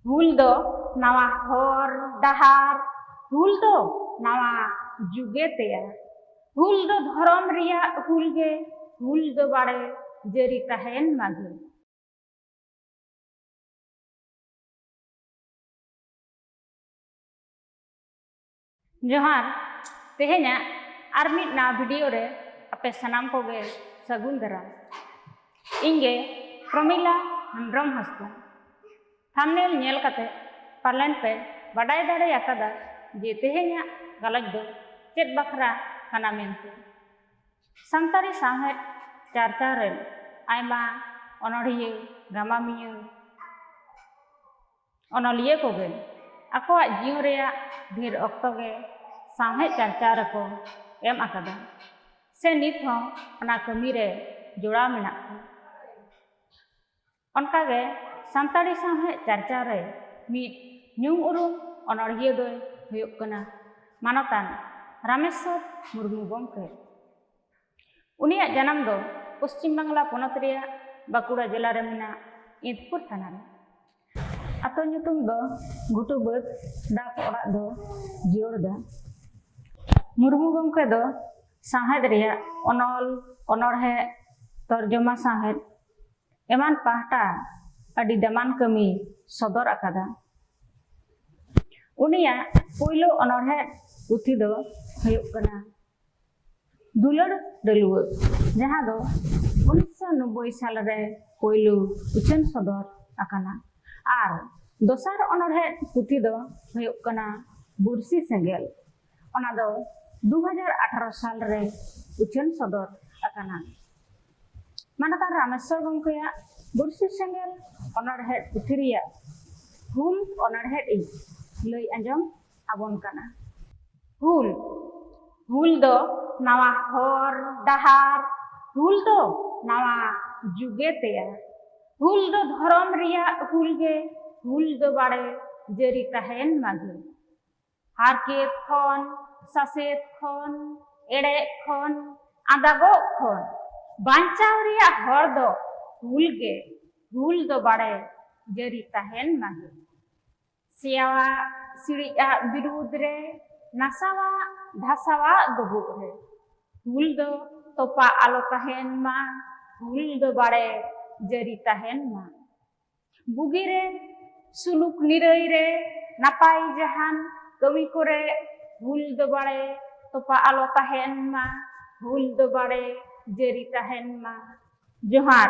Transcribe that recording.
ᱦᱩᱞ ᱫᱚ ᱱᱟᱣᱟ ᱦᱚᱨ ᱰᱟᱦᱟᱨ ᱦᱩᱞ ᱫᱚ ᱱᱟᱣᱟ ᱡᱩᱜᱮ ᱛᱮᱭᱟ ᱦᱩᱞ ᱫᱚ ᱫᱷᱚᱨᱚᱢ ᱨᱮᱭᱟᱜ ᱦᱩᱞ ᱜᱮ ᱦᱩᱞ ᱫᱚ ᱵᱟᱲᱮ ᱡᱟᱹᱨᱤ ᱛᱟᱦᱮᱱ ᱢᱟᱜᱮ ᱡᱚᱦᱟᱨ ᱛᱮᱦᱮᱧᱟᱜ ᱟᱨ ᱢᱤᱫ ᱱᱟᱣᱟ ᱵᱷᱤᱰᱤᱭᱳ ᱨᱮ ᱟᱯᱮ ᱥᱟᱱᱟᱢ ᱠᱚᱜᱮ ᱥᱟᱹᱜᱩᱱ ᱫᱟᱨᱟᱢ ᱤᱧ ᱜᱮ ᱯᱨᱚᱢᱤᱞᱟ ᱦᱮᱢᱵᱨᱚᱢ ᱦᱟᱸᱥᱫᱟ ᱛᱷᱟᱢᱱᱮᱞ ᱧᱮᱞ ᱠᱟᱛᱮ ᱯᱟᱞᱮᱱ ᱯᱮ ᱵᱟᱰᱟᱭ ᱫᱟᱲᱮ ᱟᱠᱟᱫᱟ ᱡᱮ ᱛᱮᱦᱮᱧᱟᱜ ᱜᱟᱞᱚᱪ ᱫᱚ ᱪᱮᱫ ᱵᱟᱠᱷᱨᱟ ᱠᱟᱱᱟ ᱢᱮᱱᱛᱮ ᱥᱟᱱᱛᱟᱲᱤ ᱥᱟᱶᱦᱮᱫ ᱪᱟᱨᱪᱟᱣ ᱨᱮᱱ ᱟᱭᱢᱟ ᱚᱱᱚᱲᱦᱤᱭᱟᱹ ᱜᱟᱢᱟᱢᱤᱭᱟᱹ ᱚᱱᱚᱞᱤᱭᱟᱹ ᱠᱚᱜᱮ ᱟᱠᱚᱣᱟᱜ ᱡᱤᱭᱚᱱ ᱨᱮᱭᱟᱜ ᱰᱷᱮᱨ ᱚᱠᱛᱚ ᱜᱮ ᱥᱟᱶᱦᱮᱫ ᱪᱟᱨᱪᱟᱣ ᱨᱮᱠᱚ ᱮᱢ ᱟᱠᱟᱫᱟ ᱥᱮ ᱱᱤᱛ ᱦᱚᱸ ᱚᱱᱟ ᱠᱟᱹᱢᱤ ᱨᱮ ᱡᱚᱲᱟᱣ ᱢᱮᱱᱟᱜ ᱠᱚᱣᱟ ᱚᱱᱠᱟᱜᱮ ᱥᱟᱱᱛᱟᱲᱤ ᱥᱟᱶᱦᱮᱫ ᱪᱟᱨᱪᱟᱣ ᱨᱮ ᱢᱤᱫ ᱧᱩᱢ ᱩᱨᱩᱢ ᱚᱱᱚᱲᱦᱤᱭᱟᱹ ᱫᱚᱭ ᱦᱩᱭᱩᱜ ᱠᱟᱱᱟ ᱢᱟᱱᱚᱛᱟᱱ ᱨᱟᱢᱮᱥᱥᱚᱨ ᱢᱩᱨᱢᱩ ᱜᱚᱢᱠᱮ ᱩᱱᱤᱭᱟᱜ ᱡᱟᱱᱟᱢ ᱫᱚ ᱯᱚᱥᱪᱤᱢ ᱵᱟᱝᱞᱟ ᱯᱚᱱᱚᱛ ᱨᱮᱭᱟᱜ ᱵᱟᱸᱠᱩᱲᱟ ᱡᱮᱞᱟ ᱨᱮ ᱢᱮᱱᱟᱜ ᱤᱸᱫᱽᱯᱩᱨ ᱛᱷᱟᱱᱟ ᱨᱮ᱾ ᱟᱛᱳ ᱧᱩᱛᱩᱢ ᱫᱚ ᱜᱷᱩᱴᱩ ᱵᱟᱹᱫᱽ ᱰᱟᱠ ᱚᱲᱟᱜ ᱫᱚ ᱡᱤᱭᱟᱹᱲ ᱫᱟ᱾ ᱢᱩᱨᱢᱩ ᱜᱚᱢᱠᱮ ᱫᱚ ᱥᱟᱶᱦᱮᱫ ᱨᱮᱭᱟᱜ ᱚᱱᱚᱞ, ᱚᱱᱚᱬᱦᱮᱸ, ᱛᱚᱨᱡᱚᱢᱟ ᱥᱟᱶᱦᱮᱫ ᱮᱢᱟᱱ ᱯᱟᱦᱴᱟ ᱟᱹᱰᱤ ᱫᱟᱢᱟᱱ ᱠᱟᱹᱢᱤᱭ ᱥᱚᱫᱚᱨ ᱟᱠᱟᱫᱟ᱾ ᱩᱱᱤᱭᱟᱜ ᱯᱩᱭᱞᱩ ᱚᱱᱚᱬᱦᱮᱸ ᱯᱩᱛᱷᱤ ᱫᱚ ᱦᱩᱭᱩᱜ ᱠᱟᱱᱟ ᱫᱩᱞᱟᱹᱲ ᱰᱟᱹᱞᱩᱣᱟᱹ ᱡᱟᱦᱟᱸ ᱫᱚ ᱩᱱᱤᱥᱥᱚ ᱱᱚᱵᱵᱳᱭ ᱥᱟᱞ ᱨᱮ ᱯᱳᱭᱞᱳ ᱩᱪᱷᱟᱹᱱ ᱥᱚᱫᱚᱨ ᱟᱠᱟᱱᱟ ᱟᱨ ᱫᱚᱥᱟᱨ ᱚᱱᱚᱬᱦᱮᱸ ᱯᱩᱛᱷᱤ ᱫᱚ ᱦᱩᱭᱩᱜ ᱠᱟᱱᱟ ᱵᱩᱨᱥᱤ ᱥᱮᱸᱜᱮᱞ ᱚᱱᱟ ᱫᱚ ᱫᱩ ᱦᱟᱡᱟᱨ ᱟᱴᱷᱟᱨᱚ ᱥᱟᱞ ᱨᱮ ᱩᱪᱷᱟᱹᱱ ᱥᱚᱫᱚᱨ ᱟᱠᱟᱱᱟ ᱢᱟᱱᱚᱛᱟᱱ ᱨᱟᱢᱮᱥᱥᱚᱨ ᱜᱚᱢᱠᱮᱭᱟᱜ ᱵᱩᱨᱥᱤ ᱥᱮᱸᱜᱮᱞ ᱚᱱᱚᱬᱦᱮᱸ ᱯᱩᱛᱷᱤ ᱨᱮᱭᱟᱜ ᱦᱩᱞ ᱚᱱᱚᱬᱦᱮᱸ ᱤᱧ ᱞᱟᱹᱭ ᱟᱸᱡᱚᱢ ᱟᱵᱚᱱ ᱠᱟᱱᱟ ᱦᱩᱞ ᱦᱩᱞ ᱫᱚ ᱱᱟᱣᱟ ᱦᱚᱨ ᱰᱟᱦᱟᱨ ᱦᱩᱞ ᱫᱚ ᱱᱟᱣᱟ ᱡᱩᱜᱮ ᱛᱮᱭᱟᱨ ᱦᱩᱞ ᱫᱚ ᱫᱷᱚᱨᱚᱢ ᱨᱮᱭᱟᱜ ᱦᱩᱞ ᱜᱮ ᱦᱩᱞ ᱫᱚ ᱵᱟᱲᱮ ᱡᱟᱹᱨᱤ ᱛᱟᱦᱮᱱ ᱢᱟᱜᱮ ᱦᱟᱨᱠᱮᱛ ᱠᱷᱚᱱ ᱥᱟᱥᱮᱛ ᱠᱷᱚᱱ ᱮᱲᱮ ᱠᱷᱚᱱ ᱟᱸᱫᱟᱜᱚᱜ ᱠᱷᱚᱱ ᱵᱟᱧᱪᱟᱣ ᱨᱮᱭᱟᱜ ᱦᱚᱨ ᱫᱚ ᱦᱩᱞ ᱜᱮ ᱦᱩᱞ ᱫᱚ ᱵᱟᱲᱮ ᱡᱟᱹᱨᱤ ᱛᱟᱦᱮᱱ ᱢᱟᱜᱮ ᱥᱮᱭᱟᱣᱟᱜ ᱥᱤᱲᱤᱡ ᱟᱜ ᱵᱤᱨᱩᱫᱽ ᱨᱮ ᱱᱟᱥᱟᱣᱟᱜ ᱫᱷᱟᱥᱟᱣᱟᱜ ᱰᱩᱵᱩᱜ ᱨᱮ ᱦᱩᱞ ᱫᱚ ᱛᱚᱯᱟ ᱟᱞᱚ ᱛᱟᱦᱮᱱ ᱢᱟ ᱦᱩᱞ ᱫᱚ ᱵᱟᱲᱮ ᱡᱟᱹᱨᱤ ᱛᱟᱦᱮᱱ ᱢᱟ ᱵᱩᱜᱤ ᱨᱮ ᱥᱩᱞᱩᱠ ᱱᱤᱨᱟᱹᱭ ᱨᱮ ᱱᱟᱯᱟᱭ ᱡᱟᱦᱟᱱ ᱠᱟᱹᱢᱤ ᱠᱚᱨᱮ ᱦᱩᱞ ᱫᱚ ᱵᱟᱲᱮ ᱛᱚᱯᱟ ᱟᱞᱚ ᱛᱟᱦᱮᱱ ᱢᱟ ᱦᱩᱞ ᱫᱚ ᱵᱟᱲᱮ ᱡᱟᱹᱨᱤ ᱛᱟᱦᱮᱱ ᱢᱟ ᱡᱚᱦᱟᱨ